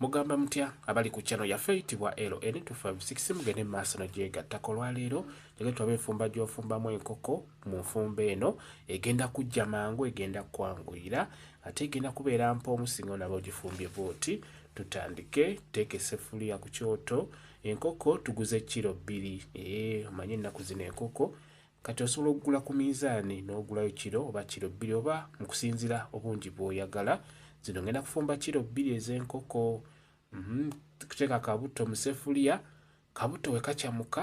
Mugamba mutya abali ku channel yaffe eyitibwa LN256 mugende mu maaso nagyegattako olwaleero jage tulabe enfumba gy'ofumbamu enkoko mu nfumba eno egenda kujja mangu egenda kwanguyira ate egenda kubeera mpa omusingo naba ogifumbye bwoti tutandike teeka esefuliya ku kyoto enkoko tuguze kiro bbiri ee omanye ennaku zino enkoko Kati osobola okugula ku minzaani n'ogulayo kiro oba kiro bbiri oba mu kusinziira obungi bw'oyagala. Zino ngenda kufumba kiro bbiri ez'enkoko, mhm, kuteeka kabutto mu sefuliya, kabutto we kacamuka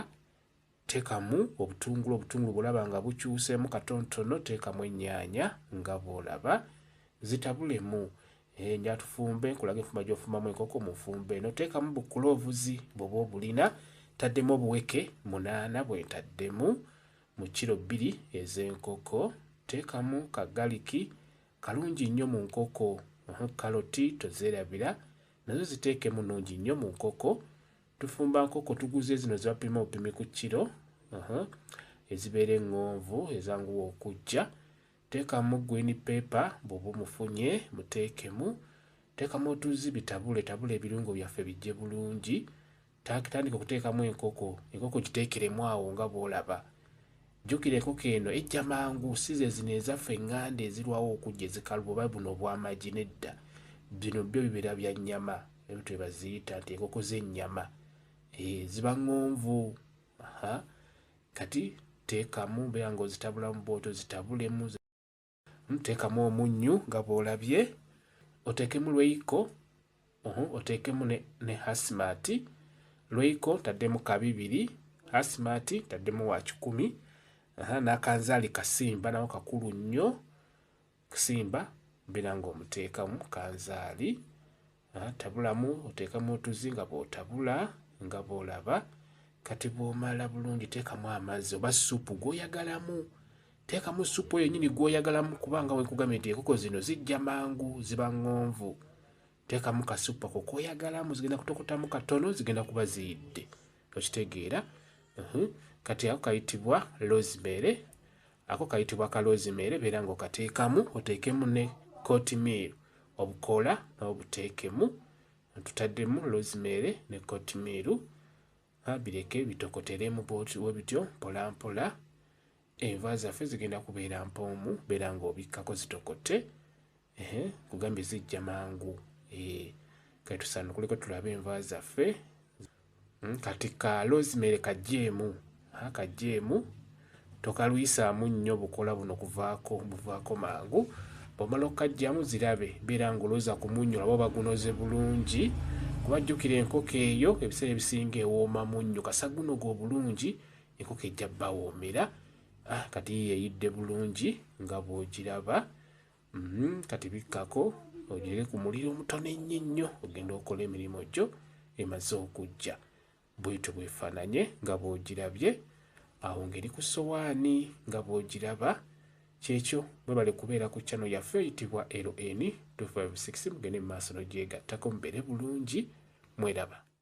teekamu obutungulu, obutungulu bw'olaba nga bukyuseemu katontono teekamu ennyaanya nga bw'olaba, zitabulemu. Eh, nja tufumbe nkulage enfuma gy'ofumamu enkoko mu nfumbe eno teekamu bukuloovuzi bwoba obulina taddemu obuweke munaana bwe ntaddemu mu kiro bbiri ez'enkoko teekamu kagaliki kalungi nnyo mu nkoko kaloti tozeerabira nazo ziteekemu nnungi nnyo mu nkoko tufumba nkoko tuguze zino zebapima obupimi ku kiro ezibeera eŋŋonvu ezanguwa okujja Tekamu green paper bwoba omufunye mutekemu tekamu otuzzi bitabule tabula ebirungo byaffe bijje bulungi tandika okutekamu enkoko enkoko gitekeremu awo nga bwolaba jukira enkoko eno ejja mangu size zino ezaffe enganda ezirwawo okujja ezikaluba oba buno obwamagi nedda bino byo bibeera bya nyama ebyo twebaziyita nti enkoko zenyama e, eh, ziba ngonvu kati teekamu beera nga ozitabulamu bwoti ozitabulemu hmm, teekamu omunnyu nga bwolabye oteekemu lweiko oteekemu ne hasimati lweiko taddemu kabibiri hasimati taddemu wa kikumi n'akanzaali kasimba nawo kakulu nnyo kusimba mbeera ng'omuteekamu kanzaali ah, tabulamu oteekamu otuzi nga bw'otabula nga bw'olaba kati bw'omala bulungi teekamu amazzi oba supu gw'oyagalamu teekamu supu eyo nyini gw'oyagalamu kubanga wenkugambye nti enkoko zino zijja mangu ziba ŋŋonvu teekamu kasupu ako k'oyagalamu zigenda kutokotamu katono zigenda kuba ziyidde okitegeera uhum. kati ako kayitibwa rosemary ako kayitibwa ka rosemary beera nga okateekamu oteekemu ne court meal obukoola n'obuteekemu tutaddemu rosemary ne court meal bireke bitokoteremu bwebityo mpolampola Enva zaffe zigenda kubeera mpoomu beera ng'obikkako zitokote ehe kugambye zijja mangu eh, kati tusanukuleko tulabe enva zaffe hmm, kati ka rosemary kajjeemu kajjeemu tokalwisaamu nnyo bukola buno kuvaako buvaako mangu bwomala okukajjamu zirabe beera ng'olooza ku munnyo laba bagunoze bulungi kubajjukira enkoko eyo ebiseera ebisinga ewooma munnyo kasagunoga obulungi enkoko ejja bawoomera ah, kati yeyidde bulungi nga bwogiraba mm -hmm. kati bikkako ogireke ku muliro omutono ennyo ennyo ogenda okola emirimu gyo emaze okujja bwetyo bwefaananye nga bwogirabye awo ngeri ku sowaani nga bwogiraba kyekyo mwebale kubeera ku chano yaffe eyitibwa ln 256 mugende mu maaso nogyegattako mubeere bulungi mweraba